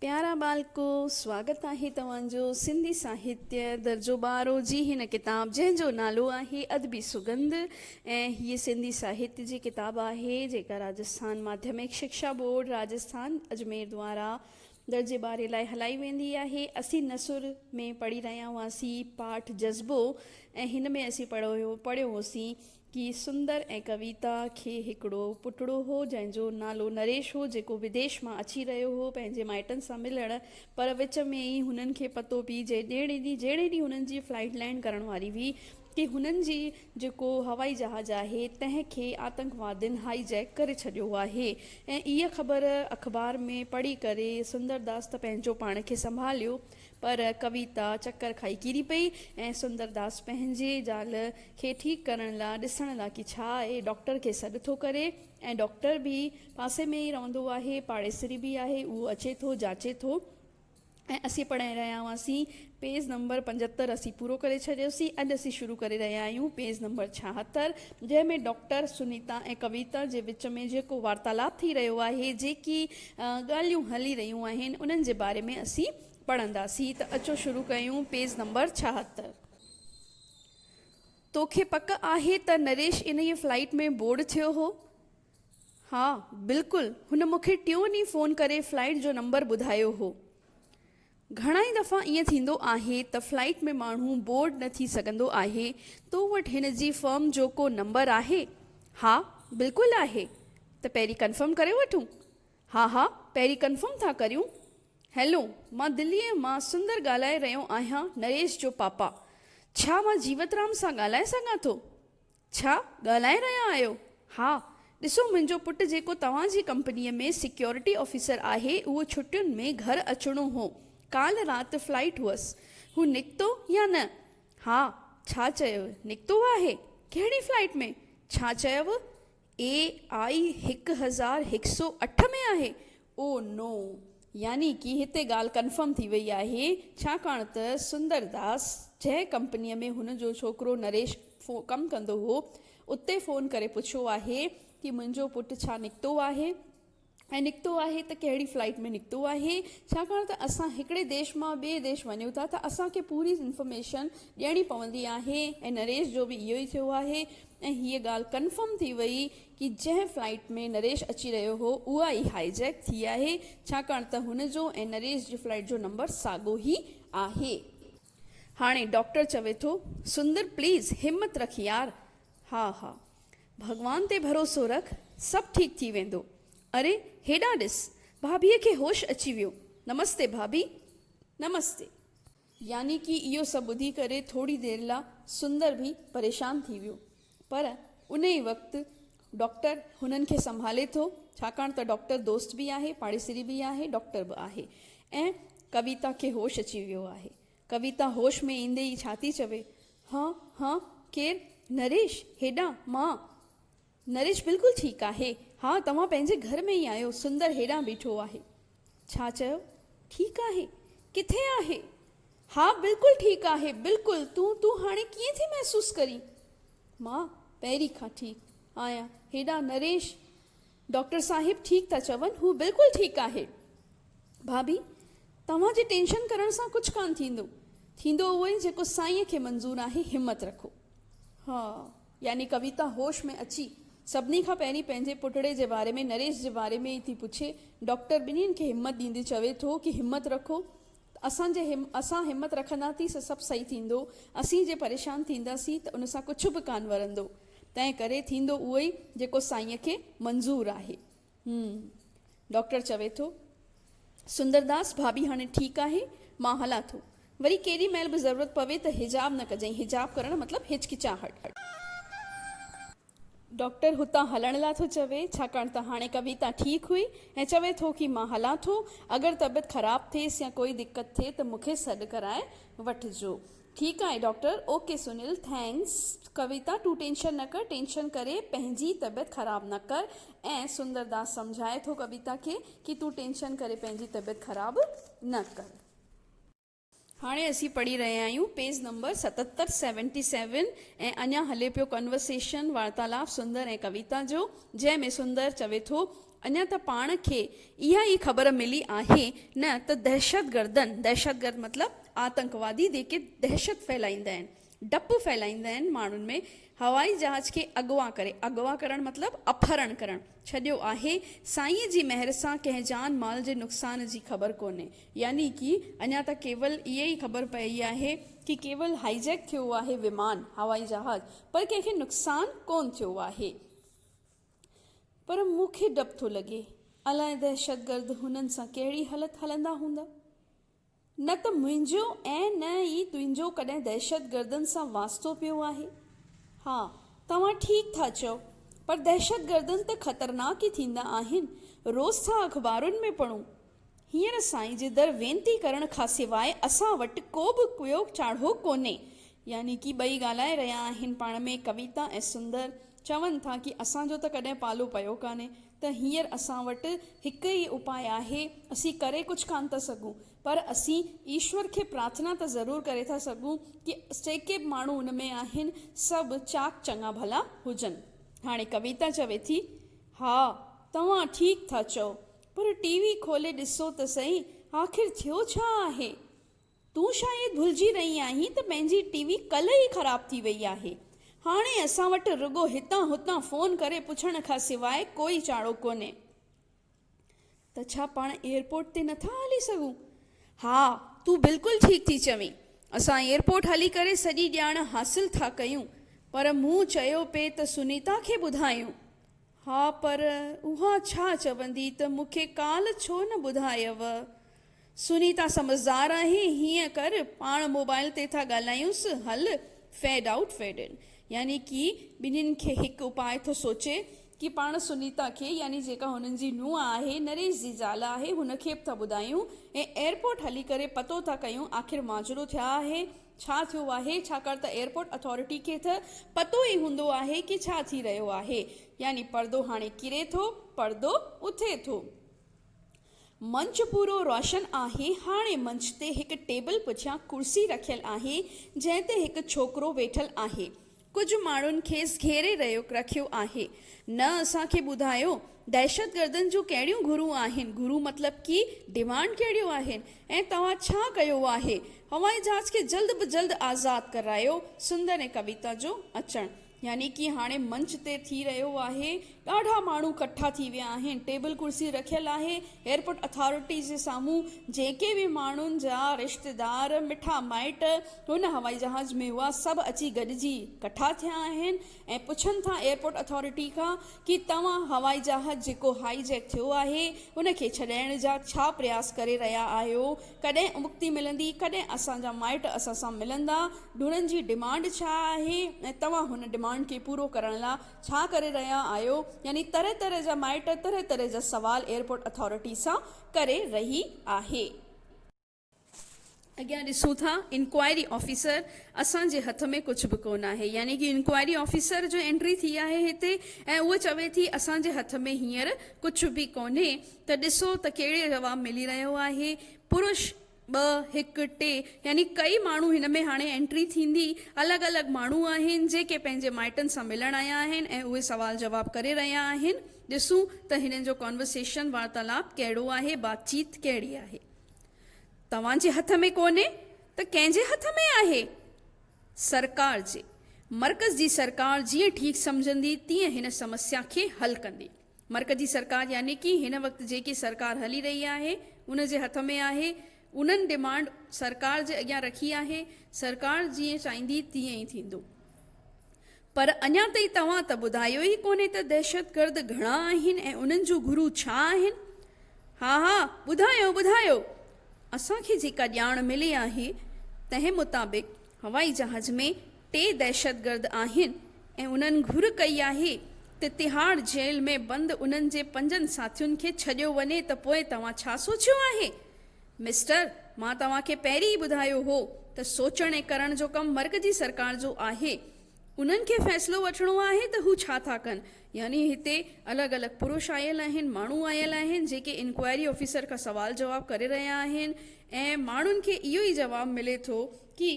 پيارا ٻالڪو، سواگت آهي توهان جو سنڌي ساهتيه درجو ٻارهون جي هن ڪتاب جنهن جو نالو آهي ادبي سگنڌ ۽ هيء سنڌي ساهتيه جي ڪتاب آهي جيڪا راجسٿان ماڌيمڪ شڪشا بورڊ راجسٿان اجمير دوارا درجي ٻارهين لاء هلائي ويندي آهي اسين نثر ۾ پڙهي رهيا هئاسين پاٺ جذبو ۽ هن ۾ اسين پڙهيو هوسين ڪي سندر ۽ ڪويتا کي هڪڙو پٽڙو هو جنهن جو نالو نريش هو جيڪو بديش مان اچي رهيو هو پنهنجي مائٽن سان ملڻ پر وچ ۾ ئي هنن کي پتو پئي جي ڏيڻي ڏي جهڙي ڏينهن هنن جي فلائيٽ لينڊ ڪرڻ واري هئي ڪي هنن جي جيڪو هوائي جهاز آهي تنهن کي آتنڪوادين هائي جيڪ ڪري ڇڏيو آهي ۽ اها خبر اخبار ۾ پڙهي ڪري سندرداس ته پنهنجو پاڻ کي سنڀاليو پر ڪويتا چڪر کائي ڪري پئي ۽ سندرداس پنهنجي زال کي ٺيڪ ڪرڻ لا ڏسڻ لا ڪي ڇا آهي ڊاڪٽر کي سڏ ٿو ڪري ۽ ڊاڪٽر به پاسي ۾ ئي رهندو آهي پاڙيسري به آهي اهو اچي ٿو جاچي ٿو ۽ اسين پڙهائي رهيا هئاسين پيج نمبر پنجهتر اسين پورو ڪري ڇڏيوسين اڄ اسين شروع ڪري رهيا آهيون پيج نمبر ڇاهتر جنهن ۾ ڊاڪٽر سنيتا ۽ ڪويتا جي وچ ۾ جيڪو وارتالاب ٿي رهيو آهي جيڪي ڳالهيون هلي رهيون آهن انهن جي باري ۾ اسين پڙهنداسين ته اچو شروع ڪيون پيج نمبر ڇاهتر. توکي پڪ آهي ته نريش انهيء فلائيٽ ۾ بورڊ ٿيو هو؟ ها بلڪل هن مونکي ٽيون ڏينهن فون ڪري فلائيٽ جو نمبر ٻڌايو هو. گهڻائي دفعا ائين ٿيندو آهي ته فلائيٽ ۾ ماڻهو بورڊ نه ٿي سگهندو آهي. تو وٽ هن جي فرم جو ڪو نمبر آهي؟ ها بلڪل آهي. ته پهرين ڪنفرم ڪري وٺون. ها ها پهرين ڪنفرم ٿا ڪريون. هيلو مان دليء مان سندر ڳالهائي رهيو آهيان نريش جو پاپا. ڇا مان جيوترام سان ڳالهائي سگهان ٿو؟ ڇا ڳالهائي رهيا آهيو؟ ها، ڏسو منهنجو پٽ جيڪو توهان جي ڪمپنيء ۾ سيڪيورٽي آفيسر آهي، اهو ڇٽين ۾ گهر اچڻو هو. ڪالهه رات فلائيٽ هئس. هو نڪتو يا نه؟ ها، ڇا چيو؟ نڪتو آهي؟ ڪهڙي فلائيٽ ۾؟ ڇا چيو؟ اي آء هڪ هزار هڪ سؤ اٺ ۾ آهي. او نو! يعني ڪي هتي ڳالهه ڪنفرم ٿي وئي آهي، ڇاڪاڻ ته سندر داس جنهن ڪمپنيء ۾ هن جو ڇوڪرو نريش ڪم ڪندو هو، اتي فون ڪري پڇيو آهي ته منهنجو پٽ ڇا نڪتو آهي ۽ نڪتو آهي ته ڪهڙي فلائيٽ ۾ نڪتو آهي، ڇاڪاڻ ته اسان هڪڙي ديش مان ٻئي ديش وڃون ٿا ته اسان کي پوري انفارميشن ڏيڻي پوندي آهي ۽ نريش جو به اهو ئي ٿيو آهي ۽ هيء ڳالهه ڪنفرم ٿي وئي ڪي جنهن فلائيٽ ۾ نريش اچي رهيو هو اها ئي هائي جيڪ ٿي آهي ڇاڪاڻ ته هن جو ۽ نريش جي فلائيٽ جو نمبر ساڳو هي آهي. هاڻي ڊاڪٽر چوي ٿو سندر پليز همت رک يار ها ها ڀڳوان تي ڀروسو رک سڀ ٺيڪ ٿي ويندو اري هيڏانهن ڏس ڀاڀي کي هوش اچي ويو نمستي ڀاڀي نمستي. يعني ڪي اهو سڀ ٻڌي ڪري ٿوري دير لا سندر به پريشان ٿي ويو. پر ان ئي وقت ڊاڪٽر هنن کي سنڀالي ٿو، ڇاڪاڻ ته ڊاڪٽر دوست به آهي، پاڙيسري به آهي، ڊاڪٽر به آهي ۽ ڪويتا کي هوش اچي ويو آهي. ڪويتا هوش ۾ ايندي ئي ڇا ٿي چوي، هه هه ڪير نريش هيڏانهن مان! نريش بلڪل ٺيڪ آهي. ها توهان پنهنجي گهر ۾ ئي آهيو. سندر هيڏانهن بيٺو آهي. ڇا چيو؟ ٺيڪ آهي؟ ڪٿي آهي؟ ها بلڪل ٺيڪ آهي. بلڪل. تون تون هاڻي ڪيئن ٿي محسوس ڪرين؟ مان پهرين کان ٺيڪ آهيان. هيڏانهن نريش، ڊاڪٽر صاحب ٺيڪ ٿا چون. هو بلڪل ٺيڪ آهي. ڀاڀي توهان جي ٽينشن ڪرڻ سان ڪجهه ڪانه ٿيندو. ٿيندو اهو ئي جيڪو سائينء کي منظور آهي. همت رکو. ها. يعني ڪويتا هوش ۾ اچي سڀني کان پهرين پنهنجي پٽڙي جي باري ۾ نريش جي باري ۾ ئي ٿي پڇي. ڊاڪٽر ٻنهين کي همت ڏيندي چوي ٿو ڪي همت رکو اسان جي اسان همت رکندا ٿي سو سڀ صحيح ٿيندو اسين جي پريشان ٿيندا سين ته ان سان ڪڇ به ڪان ورندو تنهن ڪري ٿيندو اهو ئي جيڪو سائين کي منظور آهي. هم. ڊاڪٽر چوي ٿو. سندرداس، ڀاڀي هاڻي ٺيڪ آهي، مان هلان ٿو. وري ڪيڏي مهل به ضرورت پوي ته حجاب نه ڪجئين، حجاب ڪرڻ مطلب هچڪچاهٽ. ڊاڪٽر هتان هلڻ لا ٿو چوي، ڇاڪاڻ ته هاڻي ڪويتا ٺيڪ هئي ۽ چوي ٿو ڪي مان هلان ٿو، اگر طبيعت خراب ٿيس يا ڪوئي دقت ٿئي ته مون کي سڏ ڪرائي وٺجو. ٺيڪ آهي doctor. Okay Sunil thanks Kavita تون ٽينشن نه ڪر ٽينشن ڪري پنهنجي طبيعت خراب نه ڪر ۽ سندر داس سمجهائي ٿو ڪويتا کي ڪي تون ٽينشن ڪري پنهنجي طبيعت خراب نه ڪر. هاڻي اسين پڙهي رهيا آهيون پيز نمبر ستتر، سيونٽي سيون، ۽ اڃان هلي پيو ڪنورسيشن، وارتالاپ، سندر ۽ ڪويتا جو، جنهن ۾ سندر چوي ٿو، اڃا ته پاڻ کي اها ئي خبر ملي آهي نه ته دهشتگردن، دهشتگرد مطلب آتنڪوادي جيڪي دهشت ڦهلائيندا آهن، ڊپ ڦهلائيندا آهن ماڻهن ۾، هوائي جهاز کي اغوا ڪري، اغوا ڪرڻ مطلب اپهرڻ ڪرڻ، ڇڏيو آهي، سائينء جي مهر سان ڪنهن جان مال جي نقصان جي خبر ڪونهي. يعني ڪي اڃا ته ڪيول اها ئي خبر پيئي آهي ڪي ڪيول هائي جيڪ ٿيو آهي ومان، هوائي جهاز، پر ڪنهن کي نقصان ڪونه ٿيو آهي. پر مون کي ڊپ ٿو لڳي الاء دهشتگرد هنن سان ڪهڙي هلت هلندا هوندا. نه ته منهنجو ۽ نه ئي تنهنجو ڪڏهن دهشتگردن سان واسطو پيو آهي. ها توهان ٺيڪ ٿا چئو پر دهشتگردن ته خطرناڪ ئي ٿيندا آهن روز ٿا اخبارن ۾ پڙهون هينئر سائين جي در وينتي ڪرڻ کان سواء اسان وٽ ڪو به ڪوئو چاڙهو ڪونهي. يعني ڪي ٻئي ڳالهائي رهيا آهن پاڻ ۾ ڪويتا ۽ سندر، چون ٿا ڪي اسان جو ته ڪڏهن پالو پيو ڪانهي ته هينئر اسان وٽ هڪ ئي اپاء آهي، اسين ڪري ڪجهه ڪانه ٿا سگهون پر اسين ايشور کي پرارٿنا ته ضرور ڪري ٿا سگهون ڪي جيڪي به ماڻهو ان ۾ آهن سڀ چاڪ چڱا ڀلا هجن. هاڻي ڪويتا چوي ٿي، ها توهان ٺيڪ ٿا چئو. پر ٽي وي کولي ڏسو ته سهي آخر ٿيو ڇا آهي؟ تون شايد ڀلجي رهي آهين ته پنهنجي ٽي وي ڪلهه ئي خراب ٿي وئي آهي. هاڻي اسان وٽ رڳو هتان هتان فون ڪري پڇڻ کان سواء ڪوئي چاڙهو ڪونهي. ته ڇا پاڻ ايئرپورٽ تي نه ٿا هلي سگهون؟ ها، تون بلڪل ٺيڪ ٿي چوين. اسان ايئرپورٽ هلي ڪري سڄي ڄاڻ حاصل ٿا ڪيون. پر مون چيو پئي ته سنيتا کي ٻڌايون. ها پر اها ڇا چوندي ته مون کي ڪالهه ڇو نه ٻڌايئو؟ سنيتا سمجهدار آهي، هيئن ڪر پاڻ موبائل تي ٿا ڳالهايونس، هل فيڊ آئوٽ فيڊ ان. يعني ڪي ٻنهين کي هڪ اپاء ٿو سوچي ڪي پاڻ سنيتا کي يعني جيڪا هنن جي نونهن آهي، نريش جي زال آهي، هن کي به ٿا ٻڌايون ۽ ايئرپورٽ هلي ڪري پتو ٿا ڪيون آخر ماجرو ٿيا آهي ڇا ٿيو آهي ڇاڪاڻ ته ايئرپورٽ اٿارٽي کي تھ پتو ئي هوندو آهي ڪي ڇا ٿي رهيو آهي يعني پردو هاڻي ڪري ٿو پردو اٿي ٿو. منچ پورو روشن آهي هاڻي منچ تي هڪ ٽيبل پٺيان ڪرسي رکيل آهي جنهن تي هڪ ڇوڪرو ويٺل آهي ڪجهه ماڻهن کيس گهيري رهيو رکيو آهي. نه اسان کي ٻڌايو دهشتگردن جون ڪهڙيون گهرون آهن، گهرون مطلب ڪي ڊيمانڊ ڪهڙيون آهن ۽ توهان ڇا ڪيو آهي. هوائي جهاز کي جلد به جلد آزاد ڪرايو. سندر ۽ ڪويتا جو اچڻ يعني ڪي هاڻي منچ تي ٿي رهيو آهي. ڏاڍا ماڻهو ڪٺا ٿي ويا آهن، ٽيبل ڪرسي رکيل آهي، ايئرپورٽ اٿارٽي جي سامهون جيڪي به ماڻهن جا رشتيدار، مٺا مائٽ هن هوائي جهاز ۾ هئا سڀ اچي گڏجي ڪٺا ٿيا آهن ۽ پڇن ٿا ايئرپورٽ اٿارٽي کان ڪي توهان هوائي جهاز جيڪو هائي جيڪ ٿيو آهي ان کي ڇڏائڻ جا ڇا پرياس ڪري رهيا آهيو ڪڏهن امڪتي ملندي ڪڏهن اسان جا مائٽ اسان سان ملندا ڍورن جي ڊمانڊ ڇا آهي ۽ توهان هن ڊمانڊ کي پورو ڪرڻ لا ڇا ڪري رهيا آهيو؟ يعني طرح طرح جا مائٽ طرح طرح جا سوال ايئرپورٽ اٿارٽي سان ڪري رهي آهي. اڳيان ڏسون ٿا انڪوائري آفيسر اسان جي هٿ ۾ ڪجهه به ڪونه آهي يعني ڪي انڪوائري آفيسر جو انٽري ٿي آهي هتي ۽ هوء چوي ٿي اسان جي هٿ ۾ هينئر ڪجهه به ڪونهي ته ڏسو ته ڪهڙي جواب ملي رهيو آهي پروش ٻه، هڪ، ٽي يعني ڪئي ماڻهو هن ۾ هاڻي انٽري ٿيندي. الڳ الڳ ماڻهو آهن جيڪي پنهنجي مائٽن سان ملڻ آيا آهن ۽ اهي سوال جواب ڪري رهيا آهن. ڏسون ته هنن جو ڪانورسيشن، وارتالاپ، ڪهڙو آهي، بات چيت ڪهڙي آهي. توهان جي هٿ ۾ ڪونهي ته ڪنهن جي هٿ ۾ آهي؟ سرڪار جي. مرڪز جي سرڪار جيئن ٺيڪ سمجهندي تيئن هن سمسيا کي حل ڪندي. مرڪزي سرڪار يعني ڪي هن وقت جيڪي سرڪار هلي رهي آهي ان جي هٿ ۾ آهي انهن ڊمانڊ سرڪار جي اڳيان رکي آهي سرڪار جيئن چاهيندي تيئن ئي ٿيندو پر اڃان تائين توهان ته ٻڌايو ئي ڪونهي ته دهشتگرد گهڻا آهن ۽ انهن جون گهرون ڇا آهن ها ها ٻڌايو ٻڌايو اسان کي جيڪا ڄاڻ ملي آهي تنهن مطابق هوائي جهاز ۾ ٽي دهشتگرد آهن ۽ انهن گهر ڪئي آهي ته تهاڙ جيل ۾ بند انهن جي پنجن ساٿين کي ڇڏيو وڃي ته پوء توهان ڇا سوچيو آهي؟ مسٽر مان توهان کي پهرين ئي ٻڌايو هو ته سوچڻ ۽ ڪرڻ جو ڪم مرڪزي سرڪار جو آهي. انهن کي فيصلو وٺڻو آهي ته هو ڇا ٿا ڪن. يعني هتي الڳ الڳ پروش آيل آهن، ماڻهو آيل آهن جيڪي انڪوائري آفيسر کان سوال جواب ڪري رهيا آهن ۽ ماڻهن کي اهو ئي جواب ملي ٿو ڪي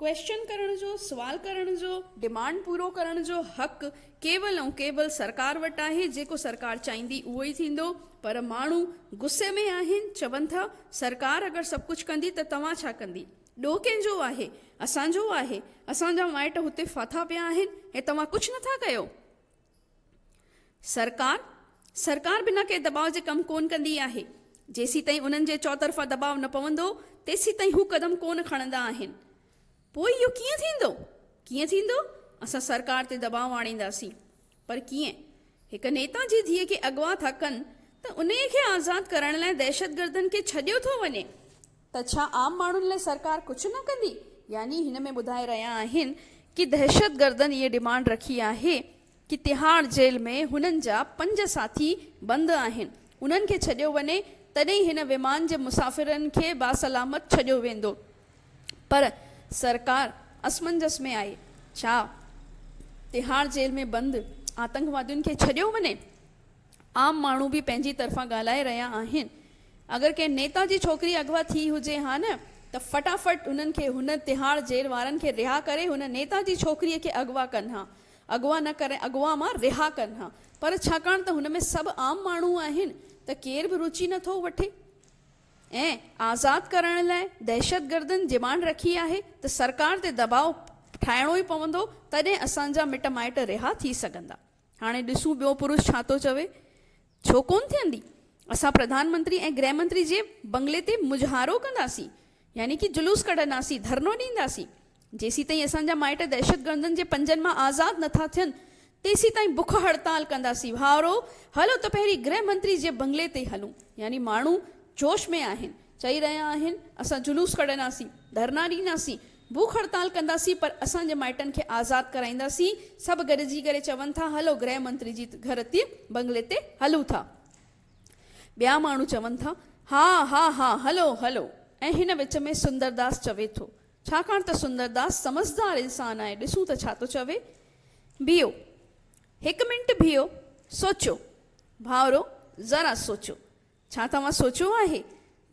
ڪويشچن ڪرڻ جو، سوال ڪرڻ جو، ڊمانڊ پورو ڪرڻ جو حق ڪيول ۽ ڪيول سرڪار وٽ آهي، جيڪو سرڪار چاهيندي اهو ئي ٿيندو، پر ماڻهو غصي ۾ آهن، چون ٿا سرڪار اگر سڀ ڪجهه ڪندي ته توهان ڇا ڪندي؟ ڏوهه ڪنهن جو آهي؟ اسان جو آهي، اسان جا مائٽ هتي ڦاٿا پيا آهن ۽ توهان ڪجهه نٿا ڪيو؟ سرڪار سرڪار بنا ڪنهن دٻاء جي ڪم ڪونه ڪندي آهي، جيسيتائين انهن جي چوطرفا دٻاء نه پوندو تيسيتائين هو قدم ڪونه کڻندا آهن. پوء اهو ڪيئن ٿيندو؟ ڪيئن ٿيندو؟ اسان سرڪار تي دٻاء آڻينداسين. پر ڪيئن؟ هڪ نيتا جي ڌيء کي اغوا ٿا ڪن ته انهيء کي آزاد ڪرڻ لاء دهشتگردن کي ڇڏيو ٿو وڃي. ته ڇا عام ماڻهن لاء سرڪار ڪجهه نه ڪندي؟ يعني هن ۾ ٻڌائي رهيا آهن ڪي دهشتگردن اهي ڊمانڊ رکي آهي ڪي تهاڙ جيل ۾ هنن جا پنج ساٿي بند آهن انهن کي ڇڏيو وڃي تڏهن هن ومان جي مسافرن کي باسلامت ڇڏيو ويندو پر سرڪار اسمنجس ۾ آهي ڇا تهاڙ جيل ۾ بند آتنڪوادين کي ڇڏيو وڃي؟ عام ماڻهو به پنهنجي طرفان ڳالهائي رهيا آهن. اگر ڪنهن نيتا جي ڇوڪري اغوا ٿي هجي ها نه ته فٽافٽ انهن کي هن تهاڙ جيل وارن کي رها ڪري هن نيتا جي ڇوڪري کي اغوا ڪن ها. اغوا نه ڪري اغوا مان رها ڪن ها. پر ڇاڪاڻ ته هن ۾ سڀ عام ماڻهو آهن ته ڪير به روچي نه ٿو وٺي ۽ آزاد ڪرڻ لاء دهشتگردن ڊمانڊ رکي آهي ته سرڪار تي دٻاء ٺاهڻو ئي پوندو تڏهن اسان جا مٽ مائٽ رها ٿي سگهندا. هاڻي ڏسون ٻيو پروش ڇا ٿو چوي. ڇو ڪونه ٿيندي. اسان پرڌان منتري ۽ گرهه منتري جي بنگلي تي مظهارو ڪنداسين. يعني ڪي جلوس ڪڍنداسين، ڌرڻو ڏينداسين. جيسيتائين اسان جا مائٽ دهشتگردن جي پنجن مان آزاد نٿا ٿين، تيسيتائين بک هڙتال ڪنداسين. ڀائرو! هلو ته پهرين گرهه منتري جي بنگلي تي هلون. يعني ماڻهو جوش ۾ آهن. چئي رهيا آهن، اسان جلوس ڪڍنداسين، ڌرڻا ڏينداسين، ڀوک هڙتال ڪنداسين پر اسان جي مائٽن کي آزاد ڪرائينداسين سڀ گڏجي ڪري چون ٿا هلو گرهه منتري جي گهر تي بنگلي تي هلون ٿا ٻيا ماڻهو چون ٿا ها ها ها هلو هلو ۽ هن وچ ۾ سندرداس چوي ٿو ڇاڪاڻ ته سندرداس سمجهدار انسان آهي ڏسون ته ڇا ٿو چوي بيهو هڪ منٽ بيهو سوچو ڀائرو ذرا سوچو ڇا توهان سوچيو آهي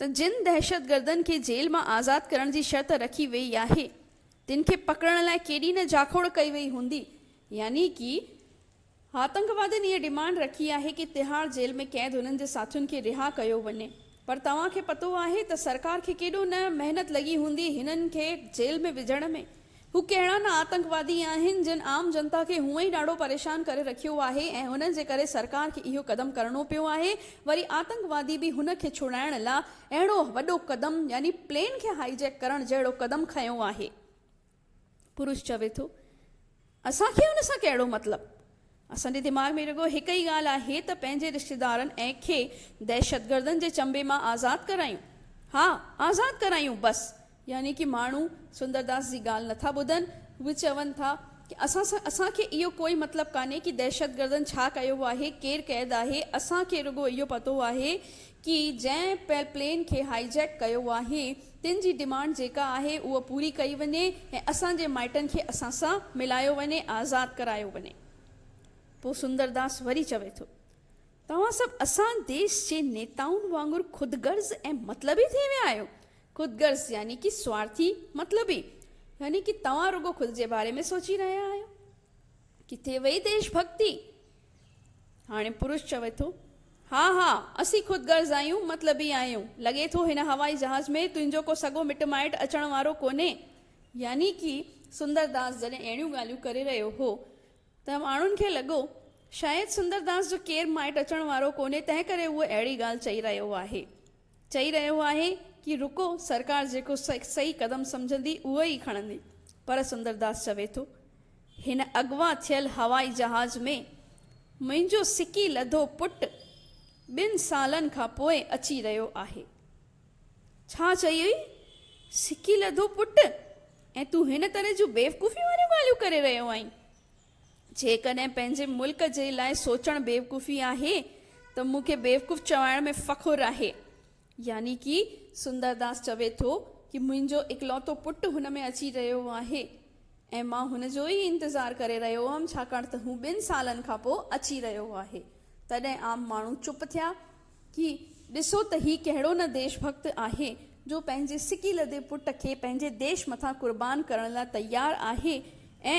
ته جن دهشتگردن کي جيل مان آزاد ڪرڻ جي شرط رکي ويئي آهي تن کي پڪڙڻ لاء ڪيڏي نه جاکوڙ ڪئي ويئي هوندي يعني ڪي آتنڪوادين اهي ڊمانڊ رکي آهي ڪي تهاڙ جيل ۾ قيد انهن جي ساٿين کي رها ڪيو وڃي پر توهان کي پتو آهي ته سرڪار کي ڪيڏو نه محنت لڳي هوندي هنن کي جيل ۾ وجهڻ ۾ هو ڪهڙا نه آتنڪوادي آهن جن عام جنتا کي هونء ئي ڏاڍو پريشان ڪري رکيو آهي ۽ انهن جي ڪري سرڪار کي اهو قدم ڪرڻو پيو آهي وري آتنڪوادي به هن کي ڇڙائڻ لا اهڙو وڏو قدم يعني پلين کي هائي جيڪ ڪرڻ جهڙو قدم کنيو آهي. پروش چوي ٿو اسان کي ان سان ڪهڙو مطلب اسان جي دماغ ۾ رڳو هڪ ئي ڳالهه آهي ته پنهنجي رشتيدارن ۽ کي دهشتگردن جي چنبي مان آزاد ڪرايون. ها آزاد ڪرايون بس. يعني ڪي ماڻهو سندرداس جي ڳالهه نٿا ٻڌن. هو چون ٿا ڪي اسان سان اسان کي اهو ڪوئي مطلب ڪانهي ڪي دهشتگردن ڇا ڪيو آهي، ڪير قيد آهي، اسان کي رڳو اهو پتو آهي ڪي جنهن پلين کي هائي جيڪ ڪيو آهي تن جي ڊمانڊ جيڪا آهي اهو پوري ڪئي وڃي ۽ اسان جي مائٽن کي اسان سان ملايو وڃي آزاد ڪرايو وڃي پو سندرداس وري چوي ٿو توهان سڀ اسان ديش جي نيتائن وانگر خود غرض ۽ مطلبي ٿي ويا آهيو خود غرض يعني ڪي سوارٿي مطلبي يعني ڪي توهان رڳو خود جي باري ۾ سوچي رهيا آهيو ڪٿي وئي ديش ڀڳتي هاڻي پروش چوي ٿو، ها ها، اسين خود غرض آهيون، مطلبي آهيون. لڳي ٿو هن هوائي جهاز ۾ تنهنجو ڪو سڳو مٽ مائٽ اچڻ وارو ڪونهي. يعني ڪي سندر داس جڏهن اهڙيون ڳالهيون ڪري رهيو هو ته ماڻهن کي لڳو شايد سندر داس جو ڪير مائٽ اچڻ وارو ڪونهي تنهنڪري هو اهڙي ڳالهه چئي رهيو آهي. چئي رهيو آهي ڪي رڪو سرڪار جيڪو صحيح قدم سمجهندي اهو ئي کڻندي پر سندرداس چوي ٿو هن اغوا ٿيل هوائي جهاز ۾ منهنجو سڪي لڌو پٽ ٻن سالن کان پوء اچي رهيو آهي ڇا چئي هئي سڪي لڌو پٽ ۽ تون هن طرح جون بيوقوفي واريون ڳالهيون ڪري رهيو آهين. جيڪڏهن پنهنجي ملڪ جي لاء سوچڻ بيوقوفي آهي ته مون کي بيوقوف چوائڻ ۾ فخر آهي. يعني ڪي سندرداس چوي ٿو ڪي منهنجو اڪلوتو پٽ هن ۾ اچي رهيو آهي ۽ مان هن جو ئي انتظار ڪري رهيو هئم ڇاڪاڻ ته هو ٻن سالن کانپوء اچي رهيو آهي. تڏهن عام ماڻهو چپ ٿيا. هي ڏسو ته هي ڪهڙو نه ديش ڀڳت آهي جو پنهنجي سڪي لڌي پٽ کي پنهنجي ديش مٿان قربان ڪرڻ لاء تيار آهي ۽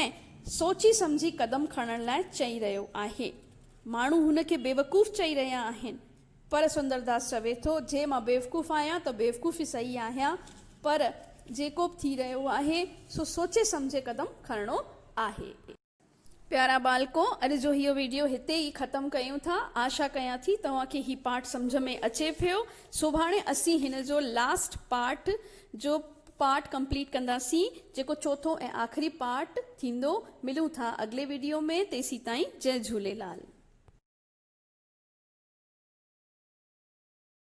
سوچي سمجهي قدم کڻڻ لاء چئي رهيو آهي. ماڻهو هن کي بيوقوف چئي رهيا آهن پر سندرداس چوي ٿو جي مان بيوقوف آهيان ته بيوقوف ئي صحيح آهيان پر جيڪو به ٿي رهيو آهي سو سوچي سمجهي قدم کڻڻو آهي. پيارا ٻالڪو اڄ جو هيء ويڊيو هتي ئي ختم ڪيون ٿا آشا ڪيان ٿي توهان کي هي پارٽ سمجهه ۾ اچي پيو سڀاڻي اسين هن جو لاسٽ پارٽ جو پارٽ ڪمپليٽ ڪنداسين جيڪو چوٿون ۽ آخري پارٽ ٿيندو ملون ٿا اڳلي ويڊيو ۾ تيسين تائين جئي جهوليلال.